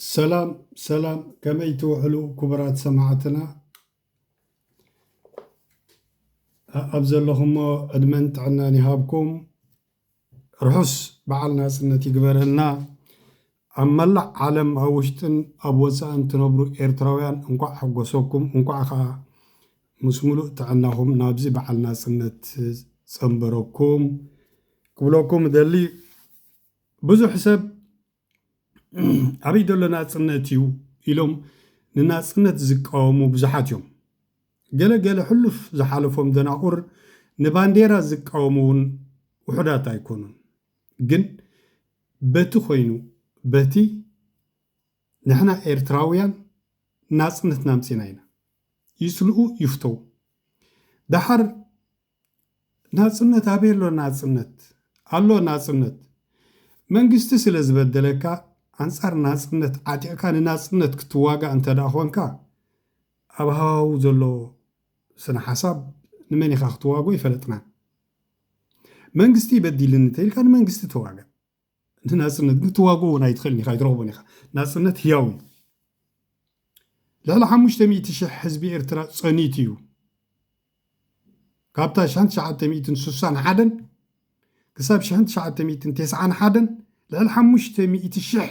ሰላም ሰላም ከመይ ትውዕሉ ክቡራት ሰማዕትና ኣብ ዘለኹሞ ዕድመን ጥዕናን ይሃብኩም። ርሑስ በዓል ናጽነት ይግበረልና። ኣብ መላእ ዓለም ኣብ ውሽጥን ኣብ ወጻእን ትነብሩ ኤርትራውያን እንቋዕ ሓጎሰኩም እንቋዕ ከኣ ምስ ምሉእ ጥዕናኹም ናብዚ በዓል ናጽነት ጸንበረኩም ክብለኩም እደሊ። ብዙሕ ሰብ ኣበይ ዘሎ ናጽነት እዩ ኢሎም ንናጽነት ዝቃወሙ ብዙሓት እዮም። ገለ ገለ ሕሉፍ ዝሓለፎም ደናቑር ንባንዴራ ዝቃወሙ እውን ውሑዳት ኣይኮኑን። ግን በቲ ኮይኑ በቲ ንሕና ኤርትራውያን ናጽነትና ኣምጺና ኢና። ይጽልኡ ይፍተው ደሓር ናጽነት ኣበይ ኣሎ ናጽነት ኣሎ ናጽነት መንግስቲ ስለ ዝበደለካ ኣንጻር ናጽነት ዓጢቕካ ንናጽነት ክትዋጋእ እንተ ኾንካ ኣብ ሃዋህው ዘሎ ስነ ሓሳብ ንመን ኢኻ ክትዋግኦ ኣይፈለጥናን መንግስቲ በዲልኒ እንተ ኢልካ ንመንግስቲ ተዋጋእ ንናጽነት ግን ትዋግኦ እውን ኣይትኽእልን ኢኻ ኣይትረኽቦን ኢኻ ናጽነት ህያው እዩ ልዕሊ ሓሙሽተ ሚእቲ ሽሕ ህዝቢ ኤርትራ ጸኒት እዩ ካብታ ሽሕን ትሽዓተ ሚእትን ስሳን ሓደን ክሳብ ሽሕን ትሽዓተ ሚእትን ቴስዓን ሓደን ልዕሊ ሓሙሽተ ሚእቲ ሽሕ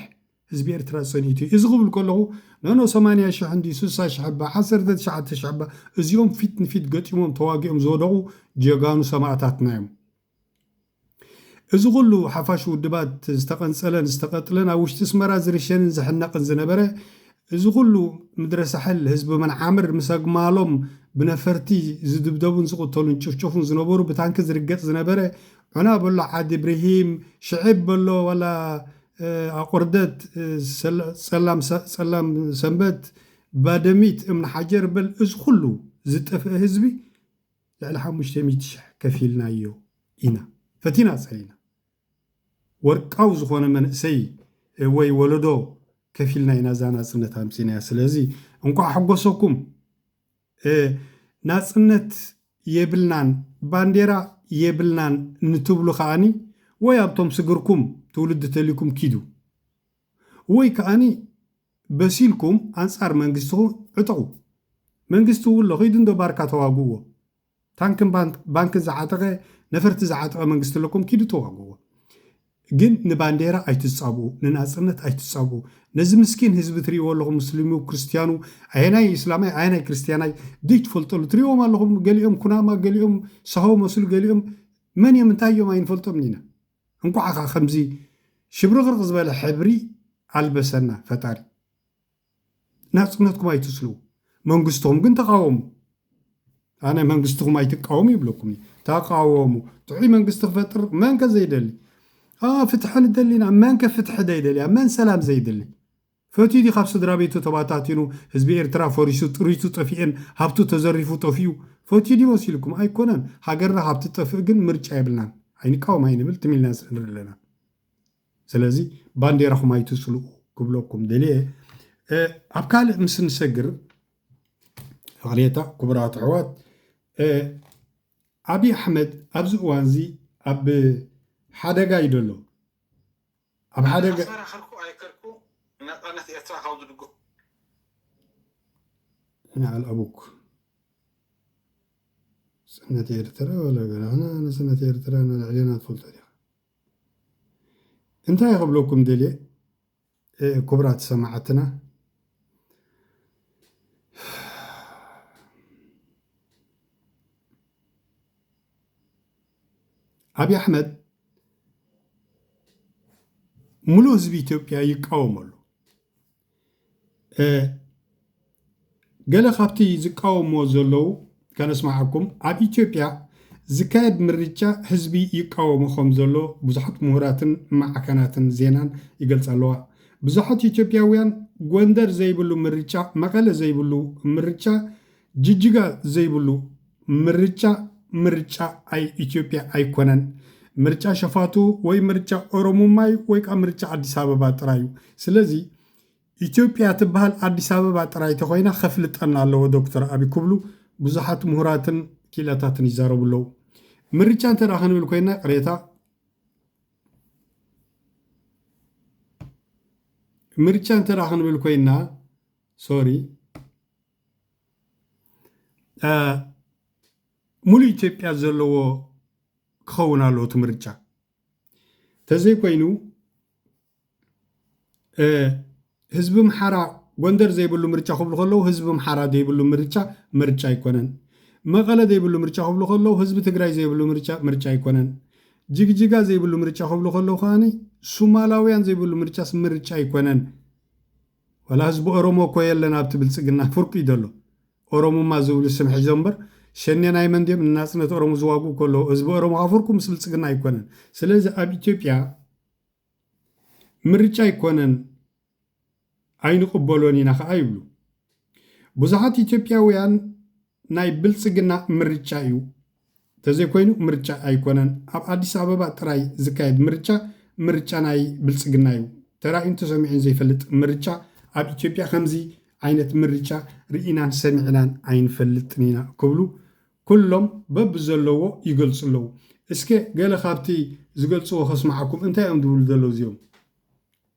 ህዝቢ ኤርትራ ጸኒቱ እዩ እዚ ክብል ከለኹ ነኖ ሰማንያ ሽሕ እንዲ ስሳ ሽሕ እባ ዓሰርተ ትሽዓተ ሽሕ እባ እዚኦም ፊት ንፊት ገጢሞም ተዋጊኦም ዝወደቑ ጀጋኑ ሰማእታትና እዮም እዚ ኩሉ ሓፋሽ ውድባት ዝተቐንጸለን ዝተቐጥለን ኣብ ውሽጢ ኣስመራ ዝርሸንን ዝሕነቕን ዝነበረ እዚ ኩሉ ምድረ ሳሕል ህዝቢ መንዓምር ምስ ኣግማሎም ብነፈርቲ ዝድብደቡን ዝቕተሉን ጭፍጨፉን ዝነበሩ ብታንኪ ዝርገጽ ዝነበረ ዑና በሎ ዓዲ ብርሂም ሽዕብ በሎ ዋላ ኣቑርደት ጸላም ሰንበት ባደሚት እምኒ ሓጀር በል እዚ ኩሉ ዝጠፍእ ህዝቢ ልዕሊ ሓሙሽተ ሚእቲ ሽሕ ከፊልናዮ ኢና ፈቲና ጸሊና ወርቃዊ ዝኾነ መንእሰይ ወይ ወለዶ ከፊልና ኢና እዛ ናጽነት ኣምጺናያ ስለዚ እንኳዕ ሓጎሰኩም ናጽነት የብልናን ባንዴራ የብልናን ንትብሉ ከኣኒ ወይ ኣብቶም ስግርኩም ትውልዲ ተልይኩም ኪዱ ወይ ከኣኒ በሲልኩም ኣንጻር መንግስትኹ ዕጠቁ መንግስቲ እው ኣሎ ኺዱ እንዶ ባርካ ተዋግእዎ ታንክን ባንክን ዝዓጠቀ ነፈርቲ ዝዓጠቀ መንግስቲ ኣለኩም ኪዱ ተዋግእዎ ግን ንባንዴራ ኣይትጻብኡ ንናጽነት ኣይትጻብኡ ነዚ ምስኪን ህዝቢ ትሪእዎ ኣለኹም ሙስሊሙ ክርስትያኑ ኣየናይ እስላማይ ኣየናይ ክርስትያናይ ዘይትፈልጠሉ ትሪእዎም ኣለኹም ገሊኦም ኩናማ ገሊኦም ሳሆ መስሉ ገሊኦም መን እዮም እንታይ እዮም ኣይንፈልጦምን ኢና እንኳዕ ከ ከምዚ ሽብርቅርቅ ዝበለ ሕብሪ ኣልበሰና ፈጣሪ። ናጽነትኩም ኣይትስልቡ መንግስቶም ግን ተቃወሙ። ኣነ መንግስትኹም ኣይትቃወሙ ይብለኩም እዩ ተቃወሙ ጥዑይ መንግስቲ ክፈጥር መንከ ዘይደሊ ፍትሐ ንደሊና መንከ ፍትሐ ዘይደልያ መን ሰላም ዘይደሊ ፈትዩ ድዩ ካብ ስድራቤቱ ተባታቲኑ ህዝቢ ኤርትራ ፈሪሱ ጥሪቱ ጠፊኤን ሃብቱ ተዘሪፉ ጠፊኡ ፈትዩ ድዩ መሲልኩም ኣይኮነን ሃገርና ካብ ትጠፍእ ግን ምርጫ የብልናን ኣይንቃወም ኣይንብል ትም ኢልና ንጽንብር ኣለና ስለዚ ባንዴራኹም ኣይትጽልኡ ክብለኩም ደልየ ኣብ ካልእ ምስ ንሰግር ፍቕሬታ ክቡራት ኣሕዋት ኣብዪ ኣሕመድ ኣብዚ እዋንዚ ኣብ ሓደጋ እዩ ደሎ ኣብ ሓደ ገ። ኣተኸራኸርኩ ኣይከድኩ ንነጻነት ኤርትራ ካብ ዝድግፉ። ንዓል ኣቡክ ሰነት ኤርትራ ወላ ገራህና ኣነ ሰነት ኤርትራ ንልዕሌና ትፈልጦ ዲኻ እንታይ ክብለኩም ደልየ ክቡራት ሰማዓትና ኣብይ ኣሕመድ ሙሉእ ህዝቢ ኢትዮጵያ ይቃወሞ ኣሎ። ገለ ካብቲ ዝቃወሞ ዘለዉ ከነስማዓኩም ኣብ ኢትዮጵያ ዝካየድ ምርጫ ህዝቢ ይቃወሞ ከም ዘሎ ብዙሓት ምሁራትን ማዕከናትን ዜናን ይገልጻ ኣለዋ። ብዙሓት ኢትዮጵያውያን ጎንደር ዘይብሉ ምርጫ፣ መቐለ ዘይብሉ ምርጫ ጅጅጋ ዘይብሉ ምርጫ ምርጫ ኣይ ኢትዮጵያ ኣይኮነን። ምርጫ ሸፋቱ ወይ ምርጫ ኦሮሙማ እዩ ወይ ከዓ ምርጫ ኣዲስ ኣበባ ጥራይ እዩ። ስለዚ ኢትዮጵያ ትበሃል ኣዲስ ኣበባ ጥራይ ተኾይና ከፍልጠና ኣለዎ ዶክተር ኣቢ ክብሉ ብዙሓት ምሁራትን ኪኢላታትን ይዛረቡ ኣለዉ። ምርጫ እንተ ክንብል ኮይና ቅሬታ ምርጫ እንተ ክንብል ኮይና ሶሪ ሙሉእ ኢትዮጵያ ዘለዎ ክኸውን ኣለዎ እቲ ምርጫ ተዘይኮይኑ ህዝቢ ምሓራ ጎንደር ዘይብሉ ምርጫ ክብሉ ከለዉ ህዝቢ ምሓራ ዘይብሉ ምርጫ ምርጫ ኣይኮነን መቐለ ዘይብሉ ምርጫ ክብሉ ከለዉ ህዝቢ ትግራይ ዘይብሉ ምርጫ ምርጫ ኣይኮነን ጅግጅጋ ዘይብሉ ምርጫ ክብሉ ከለዉ ከዓኒ ሱማላውያን ዘይብሉ ምርጫስ ምርጫ ኣይኮነን ዋላ ህዝቢ ኦሮሞ እኮ የለን ኣብቲ ብልጽግና ፍርቁ እዩ ዘሎ ኦሮሙማ ዝብሉ ስም ሒዞም እምበር ሸኔ ናይ መን ድዮም ንናጽነት ኦሮሞ ዝዋግኡ ከለዉ ህዝቢ ኦሮሞ ከኣ ፍርቁ ምስ ብልጽግና ኣይኮነን ስለዚ ኣብ ኢትዮጵያ ምርጫ ኣይኮነን ኣይንቅበሎን ኢና ከኣ ይብሉ ብዙሓት ኢትዮጵያውያን ናይ ብልፅግና ምርጫ እዩ ተዘይኮይኑ ምርጫ ኣይኮነን ኣብ ኣዲስ ኣበባ ጥራይ ዝካየድ ምርጫ ምርጫ ናይ ብልፅግና እዩ ተራእዩን ተሰሚዑን ዘይፈልጥ ምርጫ ኣብ ኢትዮጵያ ከምዚ ዓይነት ምርጫ ርኢናን ሰሚዕናን ኣይንፈልጥን ኢና ክብሉ ኩሎም በብዘለዎ ይገልፁ ኣለዉ እስከ ገለ ካብቲ ዝገልፅዎ ከስምዓኩም እንታይ እዮም ዝብሉ ዘለዉ እዚኦም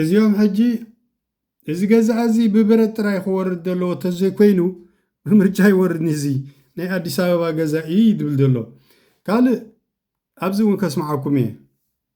እዚኦም ሕጂ እዚ ገዛኣ እዚ ብብረት ጥራይ ክወርድ ዘለዎ ተዘይኮይኑ ብምርጫ ይወርድኒ እዚ ናይ ኣዲስ ኣበባ ገዛ እዩ ይብል ዘሎ ካልእ ኣብዚ እውን ከስምዓኩም እየ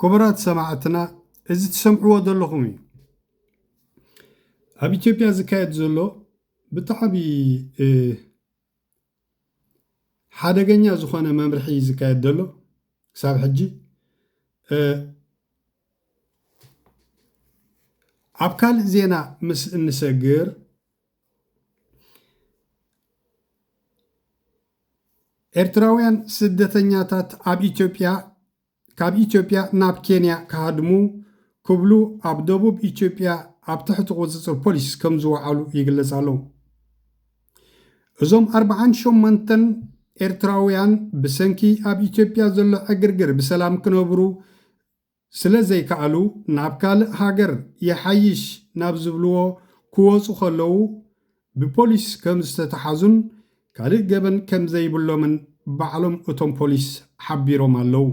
ክቡራት ሰማዕትና እዚ ትሰምዕዎ ዘለኹም እዩ ኣብ ኢትዮጵያ ዝካየድ ዘሎ ብጣዕሚ ሓደገኛ ዝኾነ መምርሒ እዩ ዝካየድ ዘሎ ክሳብ ሕጂ ኣብ ካልእ ዜና ምስ እንሰግር ኤርትራውያን ስደተኛታት ኣብ ኢትዮጵያ ካብ ኢትዮጵያ ናብ ኬንያ ክሃድሙ ክብሉ ኣብ ደቡብ ኢትዮጵያ ኣብ ትሕቲ ቁፅፅር ፖሊስ ከምዝወዓሉ ይግለፅ ኣሎ። እዞም ኣርብዓን ሸሞንተን ኤርትራውያን ብሰንኪ ኣብ ኢትዮጵያ ዘሎ ዕግርግር ብሰላም ክነብሩ ስለዘይከኣሉ ናብ ካልእ ሃገር ይሓይሽ ናብ ዝብልዎ ክወፁ ከለው ብፖሊስ ከም ዝተተሓዙን ካልእ ገበን ከም ዘይብሎምን ባዕሎም እቶም ፖሊስ ሓቢሮም ኣለዉ።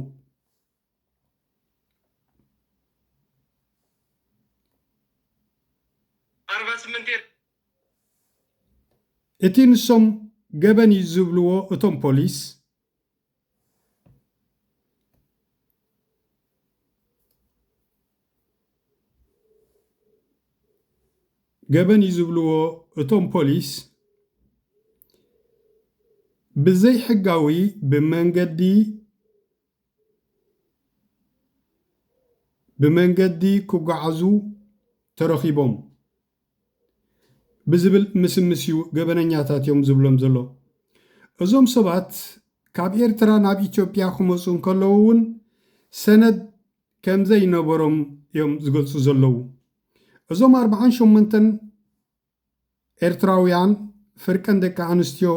እቲ ንሶም ገበን እዩ ዝብልዎ እቶም ፖሊስ፣ ገበን እዩ ዝብልዎ እቶም ፖሊስ ብዘይሕጋዊ ብመንገዲ ብመንገዲ ክጓዓዙ ተረኺቦም። ብዝብል ምስምስ እዩ ገበነኛታት እዮም ዝብሎም ዘሎ። እዞም ሰባት ካብ ኤርትራ ናብ ኢትዮጵያ ክመፁ እንከለዉ እውን ሰነድ ከምዘይነበሮም እዮም ዝገልፁ ዘለዉ። እዞም ኣርብዓን ሸሞንተን ኤርትራውያን ፍርቀን ደቂ ኣንስትዮ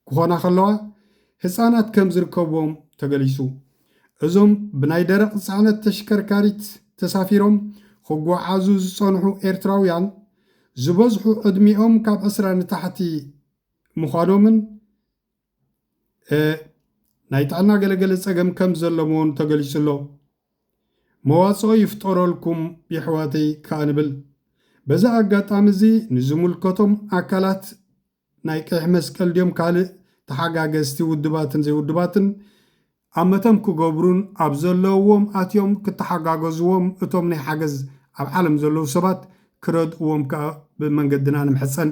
ክኾና ከለዋ ህፃናት ከም ዝርከብዎም ተገሊፁ። እዞም ብናይ ደረቕ ፅዕነት ተሽከርካሪት ተሳፊሮም ክጓዓዙ ዝፀንሑ ኤርትራውያን ዝበዝሑ ዕድሚኦም ካብ ዕስራ ንታሕቲ ምዃኖምን ናይ ጥዕና ገለገለ ፀገም ከም ዘለምዎን ተገሊፁ ኣሎ። መዋጽኦ ይፍጠረልኩም የሕዋተይ ከኣ ንብል። በዚ ኣጋጣሚ እዚ ንዝምልከቶም ኣካላት ናይ ቀይሕ መስቀል ድዮም ካልእ ተሓጋገዝቲ ውድባትን ዘይውድባትን ኣመተም ክገብሩን ኣብ ዘለውዎም ኣትዮም ክተሓጋገዝዎም እቶም ናይ ሓገዝ ኣብ ዓለም ዘለዉ ሰባት ክረድእዎም ከኣ ብመንገድና ንምሕጸን።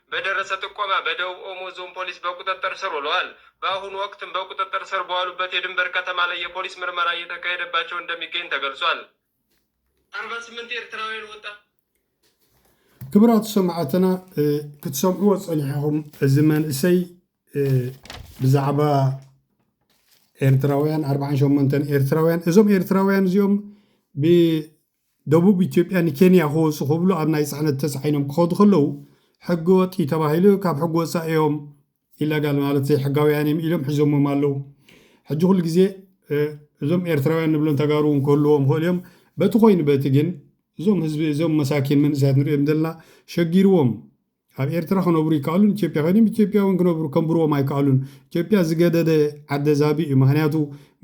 በደረሰ ጥቆማ በደቡብ ኦሞ እዞን ፖሊስ በቁጥጥር ስር ውለዋል። በአሁኑ ወቅትም በቁጥጥር ስር በዋሉበት የድንበር ከተማ ላይ የፖሊስ ምርመራ እየተካሄደባቸው እንደሚገኝ ተገልጿል። አርባ ስምንት ኤርትራውያን ወጣ ክብራት ሰማዕትና ክትሰምዕዎ ፀኒሕኹም እዚ መንእሰይ ብዛዕባ ኤርትራውያን ኣርባዓን ሸሞንተን ኤርትራውያን እዞም ኤርትራውያን እዚኦም ደቡብ ኢትዮጵያ ንኬንያ ክወጹ ክብሉ ኣብ ናይ ጽዕነት ተጻዒኖም ክኸዱ ከለዉ ሕገ ወጥ እዩ ተባሂሉ ካብ ሕጊ ወጻኢ እዮም ኢለጋል ማለት ዘይሕጋውያን እዮም ኢሎም ሒዞሞም ኣለዉ ሕጂ ኩሉ ግዜ እዞም ኤርትራውያን ንብሎም ተጋሩ እውን ክህልዎም ይኽእሉ እዮም በቲ ኮይኑ በቲ ግን እዞም ህዝቢ እዞም መሳኪን መንእሰያት ንሪኦም ዘለና ሸጊርዎም ኣብ ኤርትራ ክነብሩ ይከኣሉን ኢትዮጵያ ከይዶም ኢትዮጵያ ውን ክነብሩ ከንብርዎም ኣይከኣሉን ኢትዮጵያ ዝገደደ ዓደ ዛብእ እዩ ምክንያቱ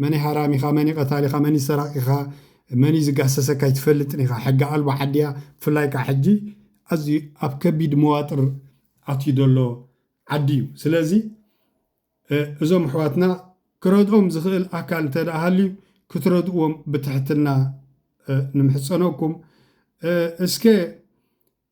መንይ ሃራሚኻ መንይ ቀታሊኻ መንይ ሰራቂኻ መንይ ዝጋሰሰካ ኣይትፈልጥን ኢኻ ሕጊ ኣልቦ ዓዲ እያ ብፍላይ ካዓ ሕጂ ኣዝዩ ኣብ ከቢድ መዋጥር ኣትዩ ዘሎ ዓዲ እዩ ስለዚ እዞም ኣሕዋትና ክረድኦም ዝኽእል ኣካል እንተደኣ ሃልዩ ክትረድእዎም ብትሕትና ንምሕፀነኩም እስከ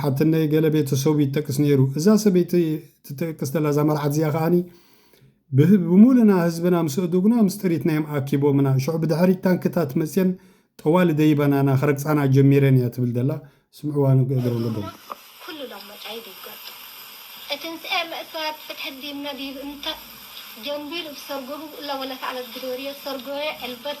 ሓትነይ ገለ ቤተሰቡ ይጠቅስ ነይሩ። እዛ ሰበይቲ ትጠቅስ ዘላ እዛ መርዓት እዚኣ ከኣኒ ብምሉእና ህዝብና ምስ ኣእዱግና ምስ ጥሪትናዮም ኣኪቦምና። ሽዑ ብድሕሪት ታንክታት መጽየን ጠዋሊ ደይበናና ክረግጻና ጀሚረን እያ ትብል ዘላ። ስምዕዋ ንገደም ገደም። ኩሉ ሎሞታይ ቢጎጥ እትንስኤ መእሰያት ፍትሒ እንዲም ነዲብ እንተ ጀንቢሉ ብሰርጎ ህቡእ እለ ወለተ ኣለት ግዶርየ ሰርጎየ ዕልበት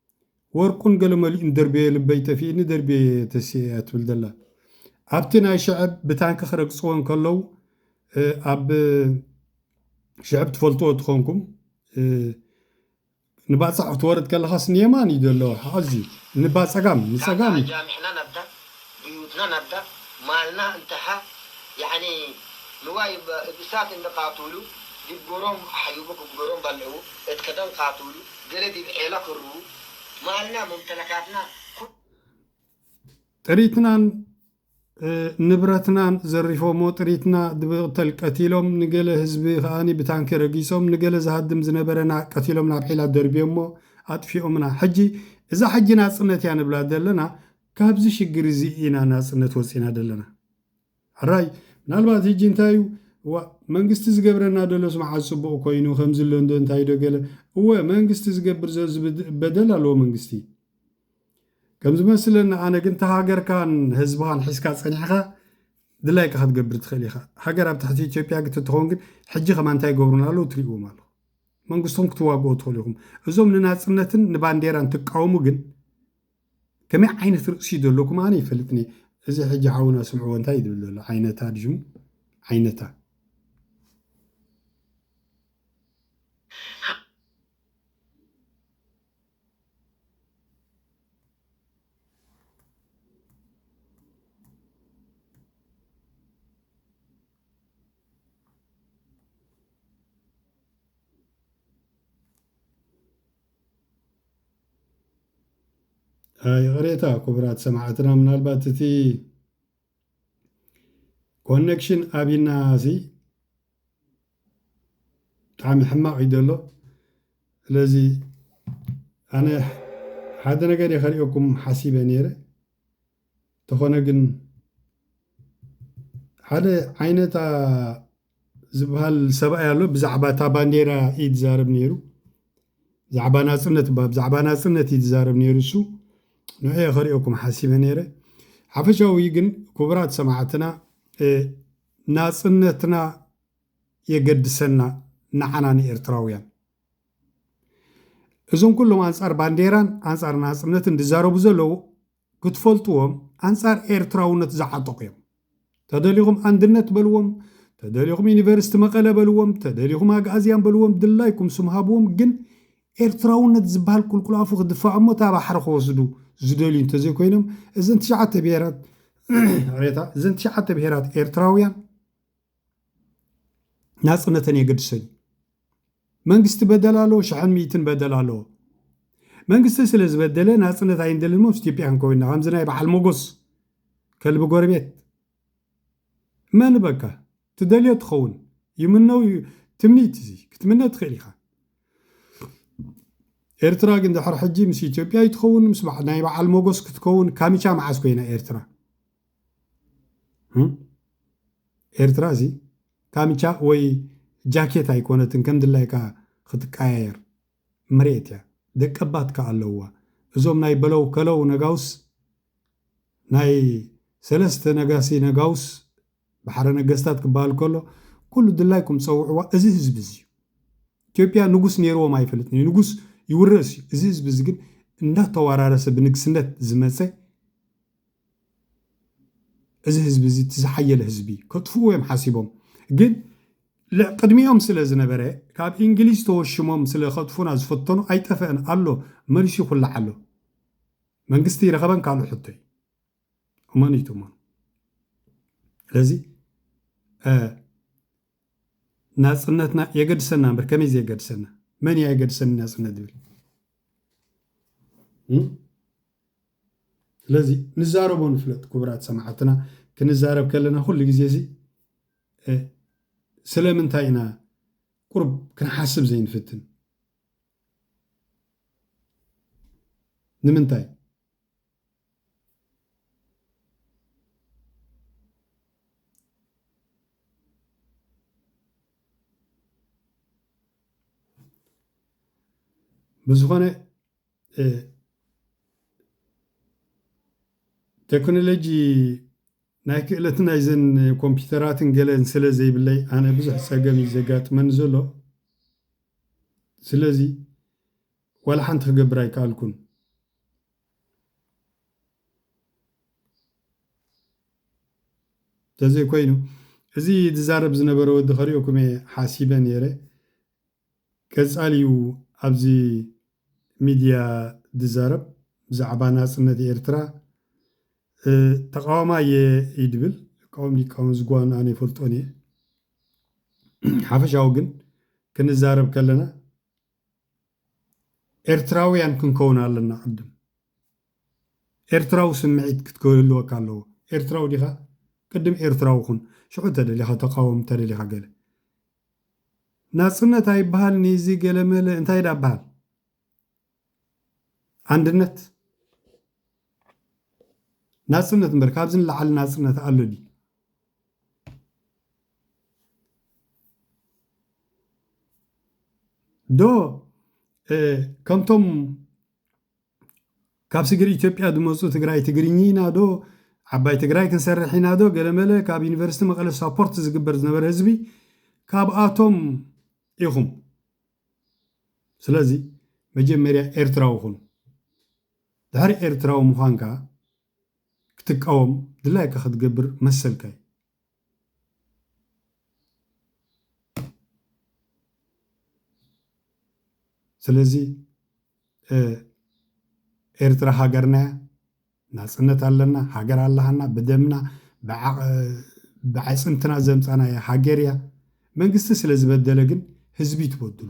ወርቁን ገለ መሊኡን ደርብየ ልበይ ጠፊእኒ ደርብየ ተሲኤ እያ ትብል ዘላ ኣብቲ ናይ ሽዐብ ብታንኪ ክረግጽዎ እንከለው ኣብ ሽዐብ ትፈልጥዎ ትኾንኩም ንባጽዕ ክትወርድ ከለኻስ ንየማን እዩ ዘሎ ኣዝዩ ንባጸጋም ንጸጋም እዩ ብዩትና ናብዳ ማልና እንተሓ ያኒ ንዋይ እሳት እንደ ቃቱሉ ዲብ ጎሮም ኣሕዩቡ ክግበሮም ባልዕዉ እት ከደን ቃቱሉ ገሌ ዲብ ዔላ ክርዉ ማልና ሙምተለካትና ኩሉ ጥሪትናን ንብረትናን ዘሪፎሞ ጥሪትና ድብቅተል ቀቲሎም ንገለ ህዝቢ ከኣ ብታንኪ ረጊጾም ንገለ ዝሃድም ዝነበረና ቀቲሎም ናብ ዔላ ደርብዮሞ ኣጥፊኦምና ሕጂ እዛ ሕጂ ናጽነት እያ ንብላ ዘለና ካብዚ ሽግር እዚ ኢና ናጽነት ወጺና ደለና ሕራይ ምናልባት ህጂ እንታይ እዩ እዋእ መንግስቲ ዝገብረና ደሎስ መዓዝ ጽቡቅ ኮይኑ ከምዚ ኣሎ እንዶ እንታይ ዶ ገለ እወ መንግስቲ ዝገብር ዘሎ ዝበደል ኣለዎ መንግስቲ ከም ዝመስለኒ ኣነ ግን እታ ሃገርካን ህዝብኻን ሒዝካ ጸኒሕኻ ድላይካ ክትገብር ትኽእል ኢኻ ሃገር ኣብ ትሕቲ ኢትዮጵያ ግት ትኸውን ግን ሕጂ ከማ እንታይ ይገብሩና ኣለዉ ትርእዎም ኣለኹ መንግስትኹም ክትዋግኦ ትኽእሉ ኢኹም እዞም ንናጽነትን ንባንዴራን ትቃወሙ ግን ከመይ ዓይነት ርእሲ ዘለኩም ኣነ ይፈልጥኒ እየ እዚ ሕጂ ሓውና ስምዕዎ እንታይ ዝብል ዘሎ ዓይነታ ድዩ ሽሙ ዓይነታ ይቕሬታ ክቡራት ሰማዕትና ምናልባት እቲ ኮኔክሽን ኣብና ሲ ብጣዕሚ ሕማቕ እዩ ዘሎ ስለዚ ኣነ ሓደ ነገር እየ ከሪኦኩም ሓሲበ ነይረ እንተኾነ ግን ሓደ ዓይነታ ዝበሃል ሰብኣይ ኣሎ ብዛዕባ እታ ባንዴራ እዩ ዝዛረብ ነይሩ ብዛዕባ ናፅነት እባ ብዛዕባ ናፅነት እዩ ዝዛረብ ነይሩ እሱ ንዕየ ከሪኦኩም ሓሲበ ነይረ ሓፈሻዊ ግን ክቡራት ሰማዕትና ናፅነትና የገድሰና ንዓና ንኤርትራውያን እዞም ኩሎም ኣንጻር ባንዴራን ኣንጻር ናጽነትን ዝዛረቡ ዘለዉ ክትፈልጥዎም ኣንጻር ኤርትራውነት ዝዓጠቑ እዮም። ተደሊኹም ኣንድነት በልዎም፣ ተደሊኹም ዩኒቨርስቲ መቐለ በልዎም፣ ተደሊኹም ኣግኣዝያን በልዎም ድላይኩም ስም ሃብዎም ግን ኤርትራውነት ዝብሃል ቁልቁል ኣፉ ክድፋእ እሞ እታ ባሕሪ ክወስዱ ዝደልዩ እንተዘይኮይኖም እዘን ትሽዓተ ብሄራት ይቕሬታ እዘን ትሽዓተ ብሄራት ኤርትራውያን ናጽነተን የገድሶ እዩ። መንግስቲ በደል ኣለዎ፣ ሽሕን ሚእትን በደል ኣለዎ። መንግስቲ ስለ ዝበደለ ናጽነት ኣይንደልን እሞ ምስ ኢትዮጵያ ክንከውን ኢና፣ ከምዚ ናይ በዓል ሞጎስ ከልቢ ጎረቤት መን በካ ትደልዮ ትኸውን ይምነው ትምኒት እዚ ክትምነ ትኽእል ኢኻ ኤርትራ ግን ድሕሪ ሕጂ ምስ ኢትዮጵያ ይትኸውን ምስ ናይ በዓል ሞጎስ ክትከውን ካሚቻ መዓስ ኮይና ኤርትራ ኤርትራ እዚ ካምቻ ወይ ጃኬት ኣይኮነትን ከም ድላይካ ክትቀያየር መሬት እያ ደቀባት ከኣ ኣለውዋ እዞም ናይ በለው ከለው ነጋውስ ናይ ሰለስተ ነጋሲ ነጋውስ ባሕረ ነገስታት ክበሃል ከሎ ኩሉ ድላይኩም ጸውዕዋ እዚ ህዝቢ እዚ እዩ ኢትዮጵያ ንጉስ ነይርዎም ኣይፈልጥን እዩ ንጉስ ይውረስ እዩ እዚ ህዝቢ እዚ ግን እንዳተዋራረሰ ብንግስነት ዝመጸ እዚ ህዝቢ እዚ እቲ ዝሓየለ ህዝቢ እዩ። ከጥፍእዎ እዮም ሓሲቦም ግን ቅድሚኦም ስለ ዝነበረ ካብ እንግሊዝ ተወሽሞም ስለ ከጥፉና ዝፈተኑ ኣይጠፈአን ኣሎ መሊሱ ይኹላዕ ኣሎ መንግስቲ ይረኸበን ካልእ ሕቶ እዩ እመኑ እዩ ትእመኑ ስለዚ ናፅነትና የገድሰና እምበር ከመይ ዘየገድሰና መን እያ የገድሰኒ ናፅነት ዝብል ስለዚ ንዛረቦ ንፍለጥ ኩቡራት ሰማዓትና ክንዛረብ ከለና ኩሉ ግዜ እዚ ስለምንታይ ኢና ቁሩብ ክንሓስብ ዘይንፍትን ንምንታይ ብዝኾነ ተክኖሎጂ ናይ ክእለት ናይዘን ኮምፒተራትን ገለን ስለ ዘይብለይ ኣነ ብዙሕ ፀገም እዩ ዘጋጥመኒ ዘሎ ስለዚ ዋላ ሓንቲ ክገብር ኣይከኣልኩን ተዘይኮይኑ እዚ ዝዛረብ ዝነበረ ወዲ ከሪኦኩም እየ ሓሲበ ነይረ ቀጻሊ ዩ ኣብዚ ሚድያ ድዛረብ ብዛዕባ ናጽነት ኤርትራ ተቃዋማይ እየ እዩ ድብል ክቃወም ድይቃወም እዚ ጓኑ ኣነ ይፈልጦን እየ ሓፈሻዊ ግን ክንዛረብ ከለና ኤርትራውያን ክንከውን ኣለና ቅድም ኤርትራዊ ስምዒት ክትክህልወካ ኣለዎ ኤርትራዊ ዲኻ ቅድም ኤርትራዊ ኩን ሽዑ ተደሊኻ ተቃወም ተደሊኻ ገለ ናጽነት ኣይብሃልን'ዩ እዚ ገለመለ እንታይ ደኣ በሃል ኣንድነት ናጽነት እምበር ካብዚ ንላዕሊ ናጽነት ኣሎ ድዩ? ዶ ከምቶም ካብ ስግር ኢትዮጵያ ዝመፁ ትግራይ ትግርኚ ኢና ዶ ዓባይ ትግራይ ክንሰርሕ ኢና ዶ ገለመለ ካብ ዩኒቨርስቲ መቐለ ሳፖርት ዝግበር ዝነበረ ህዝቢ ካብኣቶም ኢኹም ስለዚ መጀመርያ ኤርትራዊ ኩን ድሕሪ ኤርትራዊ ምዃንካ ክትቃወም ድላይካ ክትገብር መሰልካ እዩ። ስለዚ ኤርትራ ሃገርና እያ፣ ናፅነት ኣለና፣ ሃገር ኣላሃና፣ ብደምና ብዓፅምትና ዘምፃናያ ሃገር እያ። መንግስቲ ስለዝበደለ ግን ህዝቢ ትበድሉ።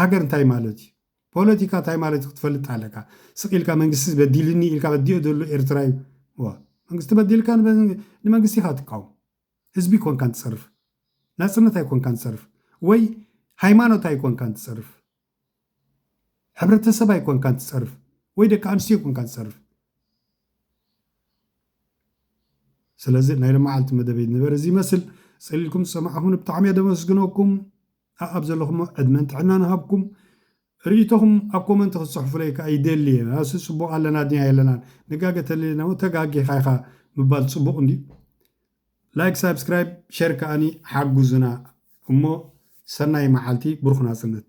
ሃገር እንታይ ማለት እዩ ፖለቲካ እንታይ ማለት እዩ ክትፈልጥ ኣለካ ስቅ ኢልካ መንግስቲ በዲልኒ ኢልካ በዲኦ ዘሎ ኤርትራ እዩ እወ መንግስቲ በዲልካ ንመንግስቲ ኢካ ትቃወም ህዝቢ ኮንካ ትጸርፍ ናጽነት ኣይኮንካን ትጸርፍ ወይ ሃይማኖት ኣይኮንካን ትጸርፍ ሕብረተሰብ ኣይኮንካን ትጸርፍ ወይ ደቂ ኣንስትዮ ኮንካ ትጸርፍ ስለዚ ናይ ለመዓልቲ መደበይ ንበር እዚ ይመስል ጸሊልኩም ዝሰማዕኹም ብጣዕሚ እየ ደመስግነኩም ኣኣብ ዘለኹሞ ዕድመን ጥዕናን እሃብኩም ርኢቶኹም ኣብ ኮመንት ክትጽሕፉለይ ከኣ ይደሊ እየ ኣስይ ጽቡቕ ኣለና ድያ የለናን ንጋገ ተለሊናሞ ተጋጊኻ ኢኻ ምባል ጽቡቕ እንድዩ ላይክ ሳብስክራይብ ሸር ከኣኒ ሓጉዙና እሞ ሰናይ መዓልቲ ብሩኽ ናጽነት።